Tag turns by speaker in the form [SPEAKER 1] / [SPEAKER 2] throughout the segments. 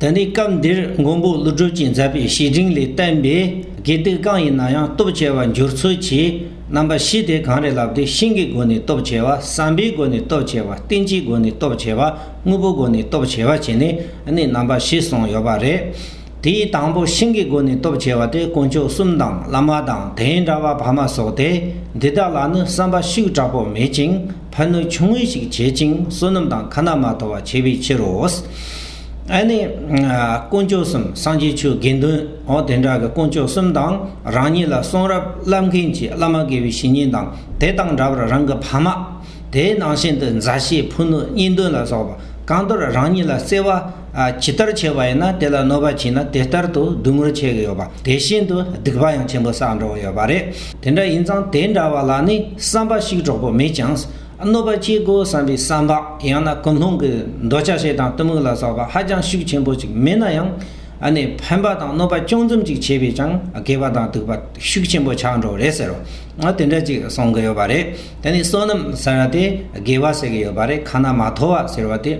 [SPEAKER 1] ད་ནི་སྐབས་འདིར་མགོན་པོ་ཀླུ་སྒྲུབ་ཀྱིས་མཛད་པའི་བཤེས་སྤྲིང་ལས་བསྟན་པའི་དགེ་སྡིག་གང་ཡིན་ན་ཡང་སྟོབས་ཆེ་བ་འགྱུར་ཚུལ་གྱི་རྣམ་པ་བཞི་དེ་གང་རེད་ལབ་དུས་ཤིང་གི་སྒོ་ནས་སྟོབས་ཆེ་བ་བསམ་པའི་སྒོ་ནས་སྟོབས་ཆེ་བ་རྟེན་གྱི་སྒོ་ནས་སྟོབས་ཆེ་བ་དངོས་པོའི་སྒོ་ནས་སྟོབས་ཆེ་བ་བྱས་ནས་ནི་རྣམ་པ་བཞི་གསུངས་ཡོད་པ་རེད། དེའི་དང་པོ་ཤིང་གི་སྒོ་ནས་སྟོབས་ཆེ་བ་སྟེ་དཀོན་མཆོག་གསུམ་དང་བླ་མ་དང་དེའི་འདྲ་བ་བར་མ་སོགས་ཏེ་འདི་དག་ལ་ནི་བསམ་པ་ཤུགས་དྲག་པོ་མེད་ཅིང་ཕན་གནོད་ཆུང་ངུ་ཞིག་བྱེད་ཅིང་བསོད་ནམས་དང་ཁ་ན་མ་ཐོ་བ་བྱེད་པའི་ཕྱིར་རོ། ཨ་ནི། དཀོན་མཆོག་གསུམ་སངས་རྒྱས་ཆོས་དགེ་འདུན་འོ་དེ་འདྲ་གི་དཀོན་མཆོག་གསུམ་དང་རང་ཉིད་ལ་གསུང་རབ་བསླབ་མཁན་གྱི་བླ་མ་དགེ་བའི་བཤེས་གཉེན་དང་དེ་དང་འདྲ་བར་རང་གི་བར་མ་དེའི་ནང་བཞིན་དུ་མཛའ་བཤེས་ཕུ་ནུ་གཉེན་འདུན་ལ་སོགས་པ་གང་དོར་རང་ཉིད་ལ་བརྩེ་བ་ཇི་ལྟར་ཆེ་བ་ཡིན་ན་དེ་ལ་གནོད་པ་བྱིན་ན་དེ་ལྟར་དུ་སྡུག་བསྔལ་ཆེ་གི་ཡོད་པ་དེ་བཞིན་དུ་སྡིག་པ་ཡང་ཆེན་པོ་བསགས་འགྲོ་གི་ཡོད་པ་རེད། དེ་འདྲ་ཡིན་ཙང་དེ་འདྲ་བ་ལ་ནི་བསམ་པ་ཞིག་གྲོགས་པོ་མེད་ཀྱང། གནོད་པ་སྐྱེལ་དགོས་བསམ་པའི་བསམ་པ་ཡང་ན་ཀུན་སློང་གི་འདོད་ཆགས་ཤིག་དང་གཏི་མུག་ལ་སོགས་པ་ཧ་ཅང་ཤུགས་ཆེན་པོ་ཅིག་མེད་ན་ཡང། ནི་ཕན་པ་དང་གནོད་པ་ཅུང་ཙམ་ཅིག་བྱས་པས་ཀྱང་དགེ་བ་དང་སྡིག་པ་ཤུགས་ཆེན་པོ་ཆགས་འགྲོ་གི་རེད་ཟེར་རོ། དེ་འདྲ་ཅིག་གསུང་གི་ཡོད་པ་རེད། དེ་ནི་བསོད་ནམས་ཟེར་བ་དེ་དགེ་བ་ཟེར་གྱི་ཡོད་པ་རེད་ཁ་ན་མ་ཐོ་བ་ཟེར་བ་དེ་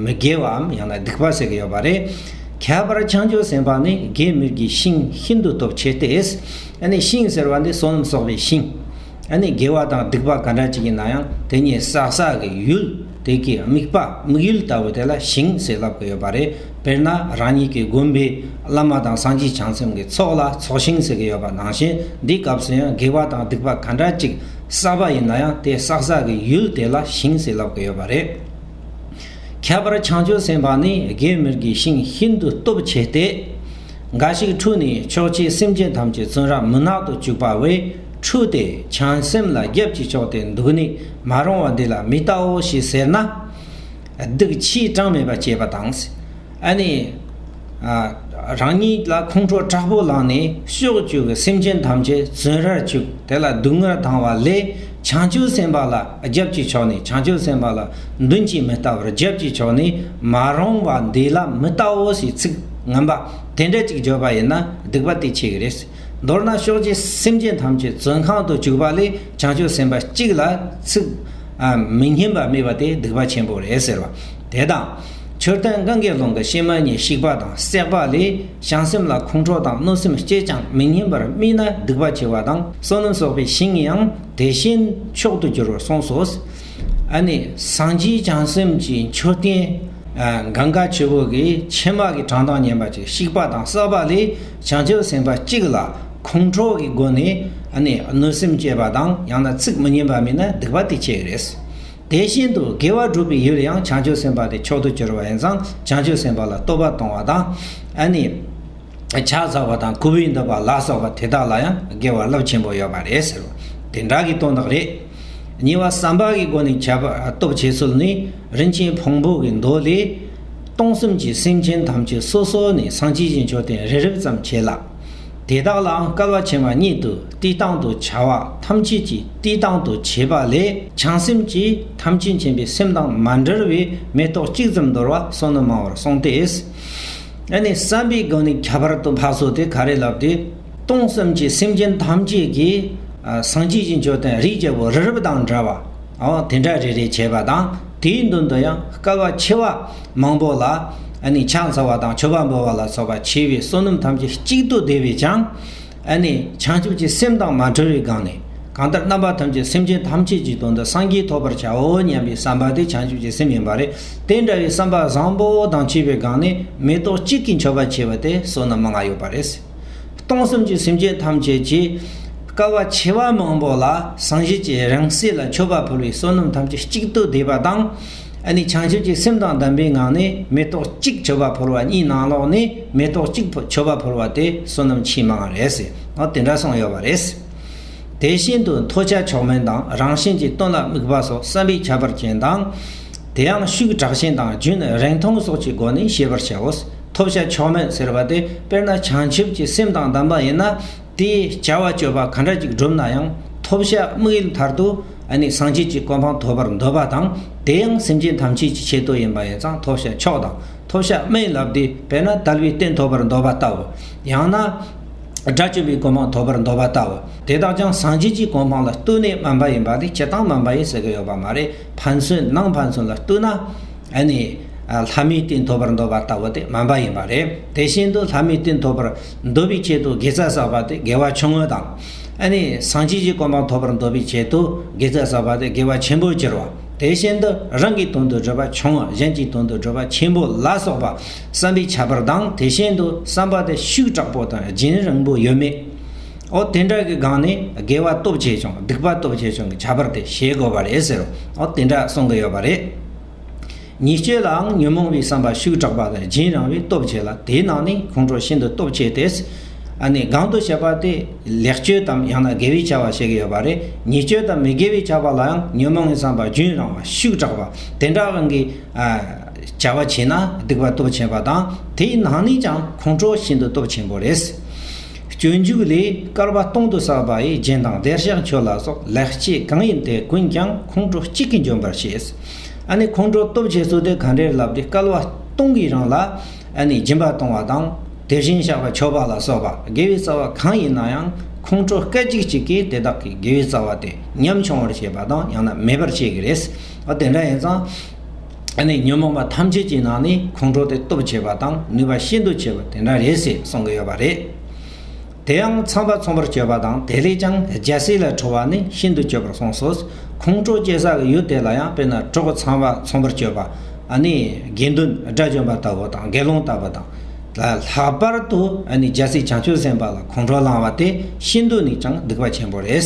[SPEAKER 1] མི་དགེ་བའམ་ཡང་ན་སྡིག་པ་ཟེར་གྱི་ཡོད་པ་རེད། ཁྱད་པར་བྱང་ཆུབ་སེམས་དཔའ་ནི་དགེ་མིག་གི་ཤིང་ཤིན་ཏུ་སྟོབས་ཆེ་སྟེ། ཨ་ནི་ཤིང་ཟེར་བ་འདི་བསོད་ནམས་གསོག་པའི་ཤིང། ཨ་ནི་དགེ་བ་དང་སྡིག་པ་ག་འདྲ་ཅིག་ཡིན་ན་ཡང་དེ་གཉིས་བསགས་བསགས་ཀྱི་ཡུལ། དེ་གའི་དམིགས་པ་དམིགས་ཡུལ་ལྟ་བུ་དེ་ལ་ཞིང་ཟེར་ལབ་ཀྱི་ཡོད་པ་རེད། དཔེར་ན་རང་ཉིད་ཀྱི་དགོན་པའི་བླ་མ་དང་སངས་རྒྱས་བྱང་སེམས་ཀྱི་ཚོགས་ལ་ཚོགས་ཞིང་ཟེར་གྱི་ཡོད་པ་ནང་བཞིན་འདིའི་སྐབས་སུ་ཡང་དགེ་བ་དང་སྡིག་པ་ག་འདྲ་ཅིག་བསགས་པ་ཡིན་ན་ཡང་དེ་བསགས་བསགས་ཀྱི་ཡུལ་དེ་ལ་ཞིང་ཟེར་ལབ་ཀྱི་ཡོད་པ་རེད། ཁྱད་པར་བྱང་ཆུབ་སེམས་དཔའ་ནི་དགེ་མི་དགེའི་ཞིང་ཤིན་ཏུ་སྟོབས་ཆེ་སྟེ། འགའ་ཞིག་འཁྲུལ་ནས་ཆོས་བྱེད་སེམས་ཅན་ཐམས་ཅད་བཙོན་རར་མུན་ནག་ཏུ་བཅུག་པ་བས། འཁྲུལ་ཏེ་བྱང་སེམས་ལ་རྒྱབ་ཀྱིས་ཕྱོགས་ཏེ་འདུག་ནི་མ་རུང་བ་འདི་ལ་མི་ལྟའོ་ཞེས་ཟེར་ན། སྡིག་ཕྱིའི་གྲངས་མེད་པ་སྐྱེས་པ་དང། ཨ་ནི། རང་ཉིད་ལ་ཁོང་ཁྲོ་དྲག་པོ་ལངས་ནས་གཤོག་བཅུ་གི་སེམས་ཅན་ཐམས་ཅད་བཙོན་རར་བཅུག་དེ་ལ་སྡུག་བསྔལ་བཏང་བ་ལས་བྱང་ཆུབ་སེམས་དཔའ་ལ་རྒྱབ་ཀྱིས་ཕྱོགས་ནས་བྱང་ཆུབ་སེམས་དཔའ་ལ་མདུན་གྱིས་མི་ལྟ་བར་རྒྱབ་ཀྱིས་ཕྱོགས་ནི་མ་རུང་བ་འདི་ལ་མི་ལྟའོ་ཞེས་ཚིག་ངན་པ་དེ་འདྲ་ཅིག་བརྗོད་པ་ཡིན་ན་སྡིག་པ་དེ་ཆེ་གི་རེད། མདོར་ན་ཕྱོགས་བཅུའི་སེམས་ཅན་ཐམས་ཅད་བཙོན་ཁང་དུ་བཅུག་པ་ལས་བྱང་ཆུབ་སེམས་དཔའ་གཅིག་ལ་ཚིག། མི་སྙན་པ་སྨྲས་པ་དེ་སྡིག་པ་ཆེན་པོ་རེད་ཟེར་བ་དེ་དང། མཆོད་རྟེན་གངྒཱའི་ཀླུང་གི་གཤེད་མ་གཉིས་བཤིག་པ་དང་བསྲེགས་པ་ལས་བྱང་སེམས་ལ་ཁོང་ཁྲོ་དང་གནོད་སེམས་སྐྱེས་ཀྱང་མི་སྙན་པར་སྨྲས་ན་སྡིག་པ་ཆེ་བ་དང་བསོད་ནམས་གསོག་པའི་ཞིང་ཡང་དེ་བཞིན་མཆོག་ཏུ་འགྱུར་བར་གསུངས་སོ། ཨ་ནི་སངས་རྒྱས་བྱང་སེམས་ཀྱི་མཆོད་རྟེན། གངྒཱ་ཆུ་བོ་གི་ཕྱེ་མ་གི་བྲང་དང་མཉམ་པ་ཅིག་བཤིག་པ་དང་བསྲེགས་པ་ལས། བྱང་ཆུབ་སེམས་དཔའ་གཅིག་ལ་ཁོང་ཁྲོ་གི་སྒོ་ནས་གནོད་སེམས་སྐྱེས་པ་དང་ཡང་ན་ཚིག་མི་སྙན་པ་མིན་ན་སྡིག་པ་དེ་སྐྱེ་གི་རེད། དེ་བཞིན་དུ་དགེ་བ་སྒྲུབ་པའི་ཡུལ་ཡང་བྱང་ཆུབ་སེམས་དཔའ་དེ་མཆོག་ཏུ་གྱུར་པ་ཡིན་ཙང་བྱང་ཆུབ་སེམས་དཔའ་ལ་བསྟོད་པ་གཏོང་བ་དང། ཕྱག་འཚལ་བ་དང་གུས་པས་འདུད་པ་ལ་སོགས་པ་དེ་དག་ལ་ཡང་དགེ་བ་རླབས་ཆེན་པོ་ཡོད་པ་རེད་ཟེར་བ་དེ་འདྲ་གི་དོན་དག་རེད། གཉིས་པ་བསམ་པ་གི་སྒོ་ནས་བྱ་བ་སྟོབས་ཆེ་ཚུལ་ནི་རིན་ཆེན་ཕུང་པོ་གི་མདོ་ལས། སྟོང་གསུམ་གྱི་སེམས་ཅན་ཐམས་ཅད་སོ་སོ་ནས་སངས་ཀྱི་ཞིང་མཆོག་སྟེང་རེ་རེག་ཙམ་བྱས་ལ། དེ་དག་ལའང་སྐལ་བ་ཆེན་པ་སྙེད་དུ་བསྟི་སྟང་དུ་བྱ་བ་ཐམས་ཅད་ཀྱིས་བསྟི་སྟང་དུ་བྱས་པ་ལས་བྱང་སེམས་ཀྱིས་ཐམས་ཅད་མཁྱེན་པའི་སེམས་དང་མ་འབྲེལ་བའི་མེ་ཏོག་གཅིག་ཙམ་འདོར་བ་སོགས་ནི་མང་བར་གསུངས་ཏེ། ཨ་ནི་བསམ་པའི་སྒོ་ནས་ཁྱད་པར་དུ་འཕགས་སོགས་དེ་ག་རེ་ལབ་སྟེ། སྟོང་གསུམ་གྱི་སེམས་ཅན་ཐམས་ཅད་ཀྱིས་སངས་ཀྱི་ཞིང་མཆོག་སྟེང་རིགས་བརྒྱ་པོ་རི་རབ་དང་འདྲ་བ། དེ་འདྲ་རེ་རེ་བྱས་པ་དང། དེའི་འདུན་དུ་ཡང་སྐལ་བ་ཆེ་བ་མང་པོ་ལ་ནི་ཕྱག་འཚལ་བ་དང་མཆོད་པ་འབུལ་བ་ལ་སོགས་པ་བྱས་པའི་བསོད་ནམས་ཐམས་ཅད་གཅིག་ཏུ་བསྡུས་པས་ཀྱང་ནི་བྱང་ཆུབ་ཀྱི་སེམས་དང་མ་བྲལ་བའི་སྒང་ནས་གང་ལྟར་རྣམ་པ་ཐམས་ཅད་སེམས་ཅན་ཐམས་ཅད་ཀྱི་དོན་དུ་སངས་རྒྱས་ཐོབ་པར་བྱའོ་སྙམ་པའི་བསམ་པ་དེ་བྱང་ཆུབ་ཀྱི་སེམས་ཡིན་པ་རེད་དེ་འདྲ་བའི་བསམ་པ་བཟང་པོ་དང་བཅས་པའི་སྒང་ནས་མེ་ཏོག་གཅིག་གིས་མཆོད་པ་བྱས་པ་དེ་བསོད་ནམས་མང་ཡོད་པ་རེད། སྟོང་གསུམ་གྱི་སེམས་ཅན་ཐམས་ཅད་ཀྱི། དཀའ་བ་ཆེ་བ་མང་པོ་ལ་སངས་རྒྱས་ཀྱི་རང་གསལ་ལ་མཆོད་པ་ཕུལ་བས་བསོད་ནམས་ཐམས་ཅད་གཅིག་ཏུ་བསྡུས་པ་དང། ནི་བྱང་ཆུབ་ཀྱི་སེམས་དང་ལྡན་པའི་ངང་ནས་མེ་ཏོག་གཅིག་མཆོད་པ་ཕུལ་བ་གཉིས་ནང་ལོགས་ནས་མེ་ཏོག་གཅིག་མཆོད་པ་ཕུལ་བ་དེ་བསོད་ནམས་ཆེས་མང་བ་རེད། ཨོ་དེ་འདྲ་སོང་ཡོད་པ་རེད། དེ་བཞིན་དུ་མཐོ་ལྕགས་མཆོག་དམན་དང་རང་བཞིན་གྱི་སྟོན་ལ་དམིགས་པ་སོགས་བསམ་པའི་ཁྱད་པར་ཅན་དང། དེའང་ཤུགས་དྲག་ཅན་དང་རྒྱུན་རིང་ཐུང་སོགས་ཀྱི་སྒོ་ནས་ཤེས་པར་བྱའོ། ཐོབ་བྱ་ཆོག་མོད་ཟེར་བ་དེ་དཔེར་ན་བྱང་ཆུབ་ཀྱི་སེམས་དང་ལྡན་པ་ཡིན་ན་དེའི་བྱ་བ་སྤྱོད་པ་ག་འདྲ་ཅིག་བསྒྲུབ་ན་ཡང་ཐོབ་བྱ་དམིགས་ཡུལ་མཐར་ཐུག་ནི་སངས་རྒྱས་ཀྱི་གོ་འཕང་ཐོབ་པར་འདོད་པ་དང་དེ་ཡང་སེམས་ཅན་ཐམས་ཅད་ཀྱི་ཆེད་དུ་ཡིན་པ་ཡིན་ཙང་ཐོབ་བྱ་མཆོག་དང་ཐོབ་བྱ་དམིགས་ལ་བསྡུས་པས་ན་དལ་བའི་རྟེན་ཐོབ་པར་འདོད་པ་ལྟ་བུ། ཡང་ན། དགྲ་བཅོམ་པའི་གོ་འཕང་ཐོབ་པར་འདོད་པ་ལྟ་བུ་དེ་དག་ཀྱང་སངས་རྒྱས་ཀྱི་གོ་འཕང་ལ་བསྟུན་ནས་སྨོན་པ་ཡིན་པ་དེ་སྤྱི་སྟངས་སྨོན་པ་ཡིན་ཟེར་གྱི་ཡོད་པ་མ་རེད། ཕན་ཚུན་ནང་ཕན་ཚུན་ལ་ལྟོས་ན་ཨ་ནི་ལྷ་མིའི་རྟེན་ཐོབ་པར་འདོད་པ་ལྟ་བུ་དེ་སྨན་པ་ཡིན་པ་རེད། དེ་བཞིན་དུ་ལྷ་མིའི་རྟེན་ཐོབ་པར་འདོད་པའི་ཆེད་དུ་དགེ་རྩ་བསགས་པ་དེ་དགེ་བ་ཆུང་ངུ་དང། ཨ་ནི་སངས་རྒྱས་ཀྱི་སྐུ་འབངས་ཐོབ་པར་འདོད་པའི་ཆེད་དུ་དགེ་རྩ་བསགས་པ་དེ་དགེ་བ་ཆེན་པོར་གྱུར་བ། དེ་བཞིན་དུ་རང་གི་དོན་དུ་བགྲོད་པ་ཆུང་ངུ་གཞན་གྱི་དོན་དུ་བགྲོད་པ་ཆེན་པོ་ལ་སོགས་པ་བསམ་པའི་ཁྱད་པར་དང་དེ་བཞིན་དུ་བསམ་པ་དེ་ཤུགས་དྲག་པོ་དང་རྒྱུན་རིང་པོ་ཡོད་མེད། འོ་དེ་འདྲ་གི་སྒང་ནས་དགེ་བ་སྟོབས་ཆེ་ཆུང་སྡིག་པ་སྟོབས་ཆེ་ཆུང་གི་ཁྱད་པར་དེ་ཤེས་དགོས་པ་རེད་ཟེར་རོ་འོ་དེ་འདྲ་གསུང་གི་ཡོད་པ་རེད། ཉེས་སྤྱོད་ལའང་ཉོན་མོངས་པའི་བསམ་པ་ཤུགས་དྲག་པ་ལས་སྦྱིན་རང་བས་སྟོབས་ཆེ་ལ་དེའི་ནང་ནས་ཁོང་ཁྲོ་ཤིན་ཏུ་སྟོབས་ཆེ་དེས། ཨ་ནི་སྒང་དུ་བྱེད་པ་དེ་ལེགས་སྤྱོད་དམ་ཡང་ན་དགེ་བའི་བྱ་བ་བྱེད་ཀྱི་ཡོད་པ་རེད་ཉེས་སྤྱོད་དམ་མི་དགེ་བའི་བྱ་བ་ལའང་ཉོན་མོངས་པའི་བསམ་པ་སྦྱིན་རང་བ་ཤུགས་དྲག་པ་དེ་འདྲ་གང་གི་བྱ་བ་བྱས་ན་སྡིག་པ་སྟོབས་ཆེན་པ་དང་དེའི་ནང་ནས་ཀྱང་ཁོང་ཁྲོ་ཤིན་ཏུ་སྟོབས་ཆེན་པོ་རེད། སྤྱོད་འཇུག་ལས་སྐལ་བ་སྟོང་དུ་བསགས་པ་ཡི་རྒྱན་དང་བདེར་གཤེགས་མཆོད་ལ་སོགས་ལེགས་སྐྱེས་གང་ཡིན་དེ་ཀུན་ཀྱང་ཁོང་ཁྲོ་གཅིག་གིས་འཇོམས་པར་བྱེད། ཨ་ནི་ཁོང་ཁྲོ་སྟོབས་ཆེ་ཚུལ་དེ་གང་འདྲའི་ལབ་སྟེ་སྐལ་བ་སྟོང་གིས་རང་ལ་ཨ་ནི་སྦྱིན་པ་གཏོང་བ་དང་དེ་བཞིན་གཤེགས་པ་མཆོད་པ་ལ་སོགས་པ་དགེ་བའི་རྩ་བ་གང་ཡིན་ན་ཡང་ཁོང་ཁྲོ་སྐད་ཅིག་གཅིག་གིས་དེ་དག་གི་དགེ་བའི་རྩ་བ་དེ་ཉམ་ཆུང་བར་བྱེད་པ་དང་ཡང་ན་མེད་པར་བྱེད་ཀྱི་རེད། དེ་འདྲ་ཡིན་ཙང། ཨ་ནི་ཉོན་མོངས་པ་ཐམས་ཅད་ཀྱི་ནང་ནས་ཁོང་ཁྲོ་དེ་སྟོབས་ཆེ་བ་དང་ནུས་པ་ཤིན་ཏུ་ཆེ་བ་དེ་འདྲ་རེད་ཟེར་གསུང་གི་ཡོད་པ་རེད། དེའང་ཚངས་པ་ཚོམ་བུར་སྤྱོད་པ་དང་དེ་ལས་ཀྱང་རྒྱལ་སྲས་ལ་ཁྲོ་བ་ནི་ཤིན་ཏུ་སྤྱོད་པར་གསུངས་སོ། ཁོང་ཁྲོ་སྐྱེ་ས་ལ་ཡུལ་དེ་ལ་ཡང་དཔེར་ན་གྲོགས་པོ་ཚངས་པ་ཚོམ་བུར་སྤྱོད་པ་ཨ་ནི་དགེ་འདུན་དགྲ་བཅོམ་པ་ལྟ་བུ་དང་དགེ་སློང་ལྟ་བུ་དང། ལྷག་པར་དུ་ཨ་ནི་རྒྱལ་སྲས་བྱང་ཆུབ་སེམས་དཔའ་ལ་ཁོང་ཁྲོ་བསླང་བ་དེ་ཤིན་ཏུ་ནས་ཀྱང་སྡིག་པ་ཆེན་པོ་རེད།